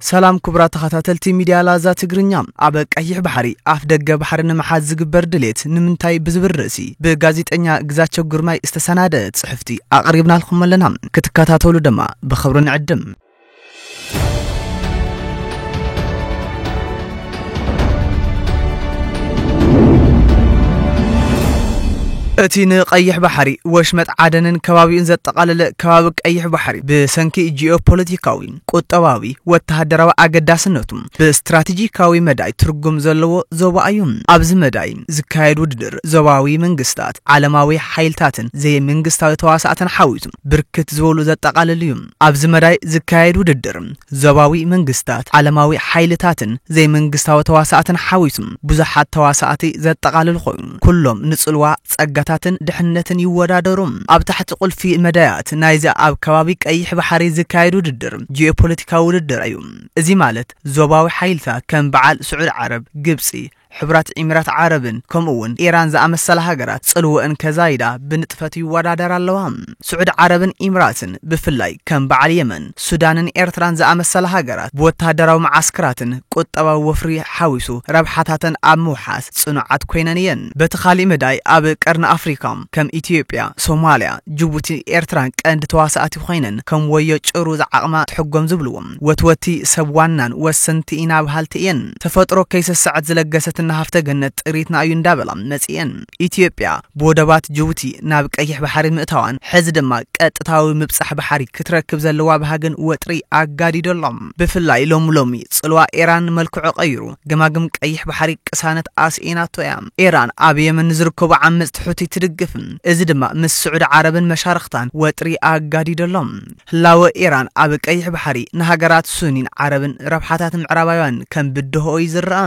ሰላም ክቡራት ተኸታተልቲ ሚድያ ላዛ ትግርኛ፣ ኣብ ቀይሕ ባሕሪ ኣፍ ደገ ባሕሪ ንምሓዝ ዝግበር ድሌት ንምንታይ ብዝብል ርእሲ ብጋዜጠኛ ግዛቸው ግርማይ ዝተሰናደእ ፅሕፍቲ ኣቕሪብናልኩም ኣለና ክትከታተሉ ድማ ብኽብሪ ንዕድም። እቲ ንቀይሕ ባሕሪ ወሽመጥ ዓደንን ከባቢኡን ዘጠቓለለ ከባቢ ቀይሕ ባሕሪ ብሰንኪ ጂኦ ፖለቲካዊ ቁጠባዊ ወተሃደራዊ ኣገዳስነቱ ብስትራቴጂካዊ መዳይ ትርጉም ዘለዎ ዞባ እዩ። ኣብዚ መዳይ ዝካየድ ውድድር ዞባዊ መንግስታት፣ ዓለማዊ ሓይልታትን ዘይመንግስታዊ ተዋሳእትን ሓዊሱ ብርክት ዝበሉ ዘጠቓልል እዩ። ኣብዚ መዳይ ዝካየድ ውድድር ዞባዊ መንግስታት፣ ዓለማዊ ሓይልታትን ዘይመንግስታዊ ተዋሳእትን ሓዊሱ ብዙሓት ተዋሳእቲ ዘጠቓልል ኮይኑ ኩሎም ንጽልዋ፣ ጸጋታትን ድሕነትን ይወዳደሩ። ኣብ ታሕቲ ቁልፊ መዳያት ናይዚ ኣብ ከባቢ ቀይሕ ባሕሪ ዝካየድ ውድድር ጂኦፖለቲካዊ ውድድር እዩ። እዚ ማለት ዞባዊ ሓይልታት ከም በዓል ስዑድ ዓረብ፣ ግብጺ፣ ሕቡራት ኢሚራት ዓረብን ከምኡ'ውን ኢራን ዝኣመሰላ ሃገራት ጽልወእን ከዛይዳ ብንጥፈት ይወዳደራ ኣለዋ። ስዑድ ዓረብን ኢምራትን ብፍላይ ከም በዓል የመን፣ ሱዳንን ኤርትራን ዝኣመሰላ ሃገራት ብወተሃደራዊ መዓስክራትን ቁጠባዊ ወፍሪ ሓዊሱ ረብሓታተን ኣብ ምውሓስ ጽኑዓት ኮይነን እየን። በቲ ካሊእ መዳይ ኣብ ቀርኒ ኣፍሪካ ከም ኢትዮጵያ፣ ሶማልያ፣ ጅቡቲ፣ ኤርትራን ቀንዲ ተዋሳእቲ ኮይነን ከም ወዮ ጭሩ ዝዓቕማ ትሕጎም ዝብልዎ ወትወቲ ሰብ ዋናን ወሰንቲ ኢና በሃልቲ እየን። ተፈጥሮ ከይሰሰዐት ዝለገሰትና ሃፍተ ገነት ጥሪትና እዩ እንዳበላ መጺኤን። ኢትዮጵያ ብወደባት ጅቡቲ ናብ ቀይሕ ባሕሪ ምእታዋን ሕዚ ድማ ቀጥታዊ ምብጻሕ ባሕሪ ክትረክብ ዘለዋ ባህግን ወጥሪ ኣጋዲዶ ኣሎ። ብፍላይ ሎሚ ሎሚ ጽልዋ ኤራን መልክዑ ቀይሩ ገማግም ቀይሕ ባሕሪ ቅሳነት ኣስኢናቶ እያ። ኤራን ኣብ የመን ንዝርከቡ ዓመጽቲ ሑቲ ትድግፍ፣ እዚ ድማ ምስ ስዑዲ ዓረብን መሻርኽታን ወጥሪ ኣጋዲዶ ኣሎ። ህላወ ኤራን ኣብ ቀይሕ ባሕሪ ንሃገራት ሱኒን ዓረብን ረብሓታት ምዕራባውያንን ከም ብድሆ እዩ ዝረኣ።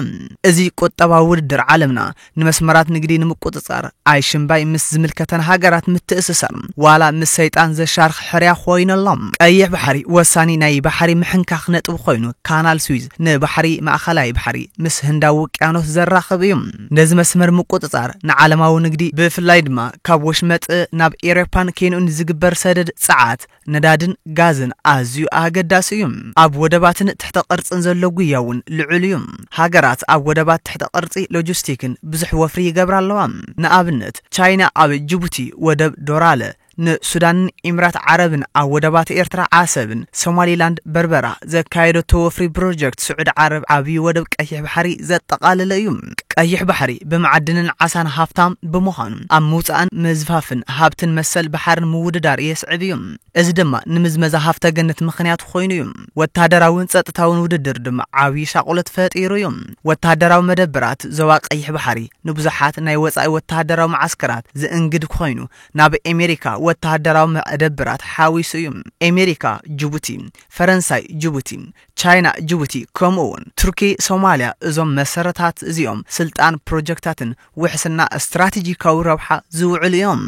እዚ ቁጠባዊ ውድድር ዓለምና ንመስመራት ንግዲ ንምቁጽጻር ኣይሽምባይ ምስ ዝምልከተን ሃገራት ምትእስሳር ዋላ ምስ ሰይጣን ዘሻርኽ ሕርያ ኮይኑ ኣሎ። ቀይሕ ባሕሪ ወሳኒ ናይ ባሕሪ ምሕንካኽ ነጥቢ ኮይኑ ካናል ስዊዝ ንባሕሪ ማእኸላይ ባሕሪ ምስ ህንዳዊ ውቅያኖስ ዘራኽብ እዩ። ነዚ መስመር ምቁጽጻር ንዓለማዊ ንግዲ ብፍላይ ድማ ካብ ወሽመጥ ናብ ኤሮፓን ኬንኡን ዝግበር ሰደድ ጸዓት ነዳድን ጋዝን ኣዝዩ ኣገዳሲ እዩ። ኣብ ወደባትን ትሕተ ቅርጽን ዘሎ ጉያ እውን ልዑል እዩ። ሃገራት ኣብ ወደባት ትሕተ ቅርጺ ሎጂስቲክን ብዙሕ ወፍሪ ይገብራ ኣለዋ። ንኣብነት ቻይና ኣብ ጅቡቲ ወደብ ዶራለ፣ ን ሱዳንን ኢምራት ዓረብን ኣብ ወደባት ኤርትራ ዓሰብን ሶማሊላንድ በርበራ ዘካየደቶ ወፍሪ ብሮጀክት ስዑድ ዓረብ ዓብዩ ወደብ ቀይሕ ባሕሪ ዘጠቓለለ እዩ። ቀይሕ ባሕሪ ብመዓድንን ዓሳን ሃፍታም ብምዃኑ ኣብ ምውፃእን ምዝፋፍን ሃብትን መሰል ባሕርን ምውድዳር የስዕብ እዩ። እዚ ድማ ንምዝመዛ ሃፍተ ገነት ምኽንያት ኾይኑ እዩ። ወታደራዊን ፀጥታዊን ውድድር ድማ ዓብዪ ሻቕሎት ፈጢሩ እዩ። ወታደራዊ መደበራት ዞባ ቀይሕ ባሕሪ ንብዙሓት ናይ ወፃኢ ወታደራዊ መዓስከራት ዝእንግድ ኾይኑ ናብ ኤሜሪካ ወታደራዊ መደበራት ሓዊሱ እዩ። ኤሜሪካ ጅቡቲ፣ ፈረንሳይ ጅቡቲ፣ ቻይና ጅቡቲ ከምኡ ውን ቱርኪ ሶማልያ እዞም መሰረታት እዚኦም ስልጣን ፕሮጀክታትን ውሕስና ስትራቴጂካዊ ረብሓ ዝውዕሉ እዮም።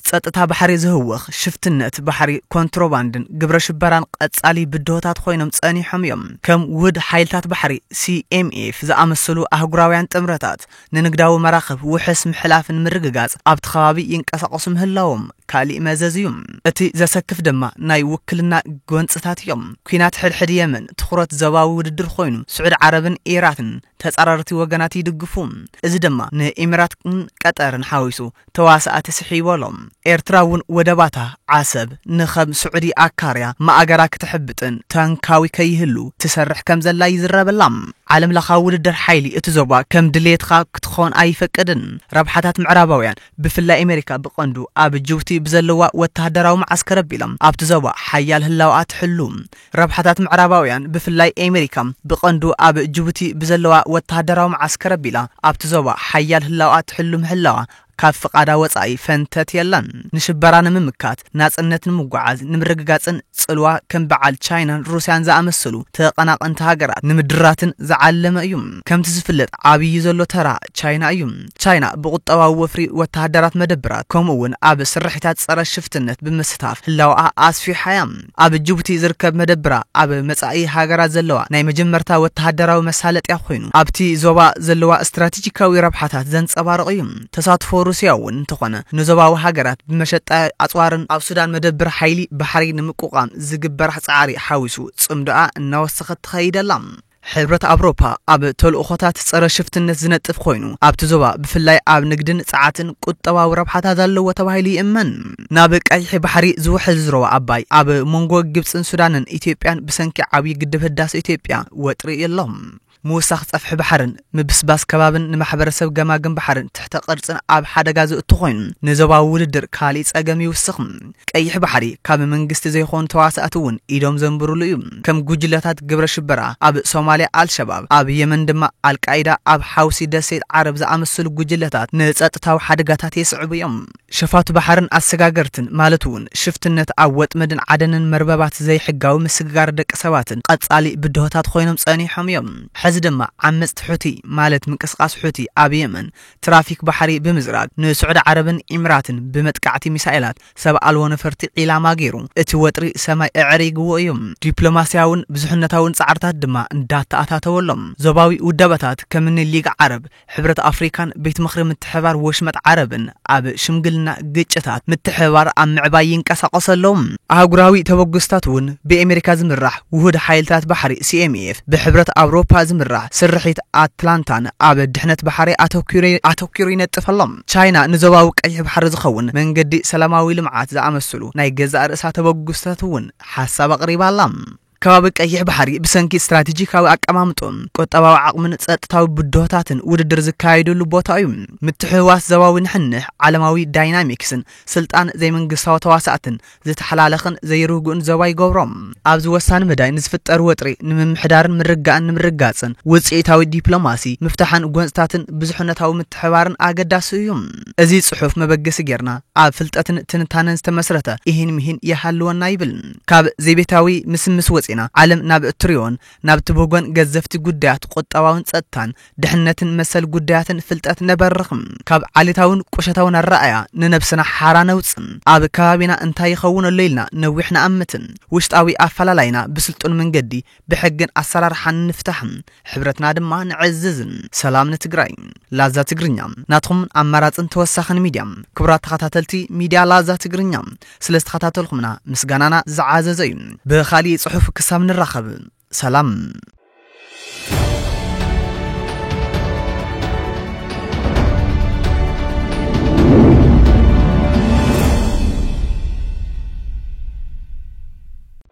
ጸጥታ ባሕሪ ዝህወኽ ሽፍትነት ባሕሪ ኮንትሮባንድን ግብረ ሽበራን ቐጻሊ ብድሆታት ኾይኖም ጸኒሖም እዮም። ከም ውህድ ሓይልታት ባሕሪ፣ CMF፣ ዝኣመሰሉ ኣህጉራውያን ጥምረታት፣ ንንግዳዊ መራኽብ ውሕስ ምሕላፍ ንምርግጋጽ ኣብቲ ከባቢ ይንቀሳቐሱ ምህላዎም ካሊእ መዘዝ እዩ። እቲ ዘሰክፍ ድማ ናይ ውክልና ጎንጽታት እዮም። ኲናት ሕድሕድ የመን ትኹረት ዞባዊ ውድድር ኾይኑ ስዑድ ዓረብን ኢራትን ተጻራርቲ ወገናት ይድግፉ። እዚ ድማ ንኢሚራትን ቀጠርን ሓዊሱ ተዋሳእቲ ስሕይ በሎም። ኤርትራ እውን ወደባታ ዓሰብ ንከም ስዑዲ ኣካርያ ማእገራ ክተሕብጥን ታንካዊ ከይህሉ ትሰርሕ ከም ዘላ ይዝረበላ። ዓለምለኻዊ ውድድር ሓይሊ እቲ ዞባ ከም ድልየትኻ ክትኾን ኣይፈቅድን። ረብሓታት ምዕራባውያን ብፍላይ ኣሜሪካ ብቐንዱ ኣብ ጅቡቲ ብዘለዋ ወተሃደራዊ መዓስከር ኣቢሎም ኣብቲ ዞባ ሓያል ህላወኣ ትሕሉ። ረብሓታት ምዕራባውያን ብፍላይ ኤመሪካ ብቐንዱ ኣብ ጅቡቲ ብዘለዋ ወተሃደራዊ መዓስከር ኣቢላ ኣብቲ ዞባ ሓያል ህላወኣ ትሕሉ ምህላዋ ካብ ፍቓዳ ወጻኢ ፈንተት የላን። ንሽበራ ንምምካት፣ ናጽነት ንምጉዓዝ ንምርግጋጽን ጽልዋ ከም ብዓል ቻይናን ሩስያን ዝኣመሰሉ ተቐናቐንቲ ሃገራት ንምድራትን ዝዓለመ እዩ። ከምቲ ዝፍለጥ ዓብዪ ዘሎ ተራ ቻይና እዩ። ቻይና ብቑጠባዊ ወፍሪ፣ ወተሃደራት መደብራት ከምኡ'ውን ኣብ ስርሒታት ጸረ ሽፍትነት ብምስታፍ ህላወኣ ኣስፊሓ እያ። ኣብ ጅቡቲ ዝርከብ መደብራ ኣብ መጻኢ ሃገራት ዘለዋ ናይ መጀመርታ ወተሃደራዊ መሳለጥያ ኮይኑ ኣብቲ ዞባ ዘለዋ ስትራቴጂካዊ ረብሓታት ዘንጸባርቕ እዩ። ተሳትፎ ሩስያ እውን እንተኾነ ንዞባዊ ሃገራት ብመሸጣ ኣጽዋርን፣ ኣብ ሱዳን መደብር ሓይሊ ባሕሪ ንምቁቋም ዝግበራሕ ጻዕሪ ሓዊሱ ጽምዶኣ እናወሰኸት ትኸይድ ኣላ። ሕብረት ኣቭሮፓ ኣብ ተልእኾታት ጸረ ሽፍትነት ዝነጥፍ ኮይኑ ኣብቲ ዞባ ብፍላይ ኣብ ንግድን ጸዓትን ቁጠባዊ ረብሓታት ኣለዎ ተባሂሉ ይእመን። ናብ ቀይሒ ባሕሪ ዝውሕዝ ዞባ ኣባይ ኣብ መንጎ ግብጽን ሱዳንን ኢትዮጵያን ብሰንኪ ዓብዪ ግድብ ህዳሰ ኢትዮጵያ ወጥሪ ኣሎ። ምውሳኽ ጸፍሒ ባሕርን ምብስባስ ከባብን ንማሕበረሰብ ገማግም ባሕርን ትሕተ ቅርጽን ኣብ ሓደጋ ዘእቱ ኮይኑ፣ ንዞባዊ ውድድር ካሊእ ጸገም ይውስኽ። ቀይሕ ባሕሪ ካብ መንግስቲ ዘይኮኑ ተዋሳእቲ እውን ኢዶም ዘንብርሉ እዩ። ከም ጉጅለታት ግብረ ሽበራ ኣብ ሶማልያ ኣልሸባብ፣ ኣብ የመን ድማ ኣልቃይዳ፣ ኣብ ሓውሲ ደሴት ዓረብ ዝኣመሰሉ ጉጅለታት ንጸጥታዊ ሓደጋታት የስዕቡ እዮም። ሸፋቱ ባሕርን ኣሰጋገርትን ማለት እውን ሽፍትነት ኣብ ወጥመድን ዓደንን መርበባት ዘይሕጋዊ ምስግጋር ደቂ ሰባትን ቐፃሊ ብድሆታት ኾይኖም ፀኒሖም እዮም። ሕዚ ድማ ዓመፅቲ ሑቲ ማለት ምንቅስቓስ ሑቲ ኣብ የመን ትራፊክ ባሕሪ ብምዝራግ ንስዑዲ ዓረብን ኢምራትን ብመጥቃዕቲ ሚሳኤላት ሰብ ኣልቦ ነፈርቲ ዒላማ ገይሩ እቲ ወጥሪ ሰማይ ኣዐሪግዎ እዩ። ዲፕሎማሲያውን ብዙሕነታውን ፃዕርታት ድማ እንዳተኣታተወሎም ዞባዊ ውዳበታት ከምኒ ሊግ ዓረብ፣ ሕብረት ኣፍሪካን ቤት ምኽሪ ምትሕብባር ወሽመጥ ዓረብን ኣብ ሽምግልና ግጭታት ምትሕብባር ኣብ ምዕባይ ይንቀሳቐሱ ኣለዉ። ኣህጉራዊ ተበግሶታት እውን ብኤሜሪካ ዝምራሕ ውሁድ ሓይልታት ባሕሪ፣ ሲኤምኤፍ፣ ብሕብረት ኣውሮፓ ዝምራሕ ስርሒት ኣትላንታን ኣብ ድሕነት ባሕሪ ኣተኲሩ ኣተኲሩ ይነጥፍ ኣሎ። ቻይና ንዞባዊ ቀይሕ ባሕሪ ዝኸውን መንገዲ ሰላማዊ ልምዓት ዝኣመስሉ ናይ ገዛእ ርእሳ ተበግሶታት እውን ሓሳብ ኣቕሪባ ኣላ። ከባቢ ቀይሕ ባሕሪ ብሰንኪ ስትራቴጂካዊ ኣቀማምጥኡ፣ ቁጠባዊ ዓቕሙን ጸጥታዊ ብድሆታትን ውድድር ዝካየደሉ ቦታ እዩ። ምትሕውዋስ ዞባዊ ንሕንሕ፣ ዓለማዊ ዳይናሚክስን ስልጣን ዘይመንግስታዊ ተዋሳእትን ዝተሓላለኸን ዘይርጉእን ዞባ ይገብሮ። ኣብዚ ወሳኒ መዳይ ንዝፍጠር ወጥሪ ንምምሕዳርን ምርግጋእን ንምርግጋጽን ውጽኢታዊ ዲፕሎማሲ፣ ምፍታሕን ጎንጽታትን ብዙሕነታዊ ምትሕብባርን ኣገዳሲ እዩ። እዚ ጽሑፍ መበገሲ ጌርና ኣብ ፍልጠትን ትንታነን ዝተመስረተ ኢሂን ምሂን ይሃልወና ይብል። ካብ ዘይቤታዊ ምስምስ ወጺእና፣ ዓለም ናብ እትርእዮን ናብ ትብህጎን ገዘፍቲ ጉዳያት ቁጠባውን ጸጥታን ድሕነትን መሰል ጉዳያትን ፍልጠት ነበርኽ። ካብ ዓሌታውን ቁሸታውን ኣረኣእያ ንነብስና ሓራ ነውጽእ። ኣብ ከባቢና እንታይ ይኸውን ኣሎ ኢልና ነዊሕ ንኣምት። ውሽጣዊ ኣፈላላይና ብስልጡን መንገዲ ብሕግን ኣሰራርሓን ንፍታሕ ሕብረትና ድማ ንዕዝዝ። ሰላም ንትግራይ። ላዛ ትግርኛ ናትኹምን ኣማራፅን ተወሳኽን ሚድያ። ክቡራት ተኸታተልቲ ሚድያ ላዛ ትግርኛ ስለዝተኸታተልኹምና ምስጋናና ዝዓዘዘ እዩ። ብኻሊእ ፅሑፍ ክሳብ ንራኸብ ሰላም።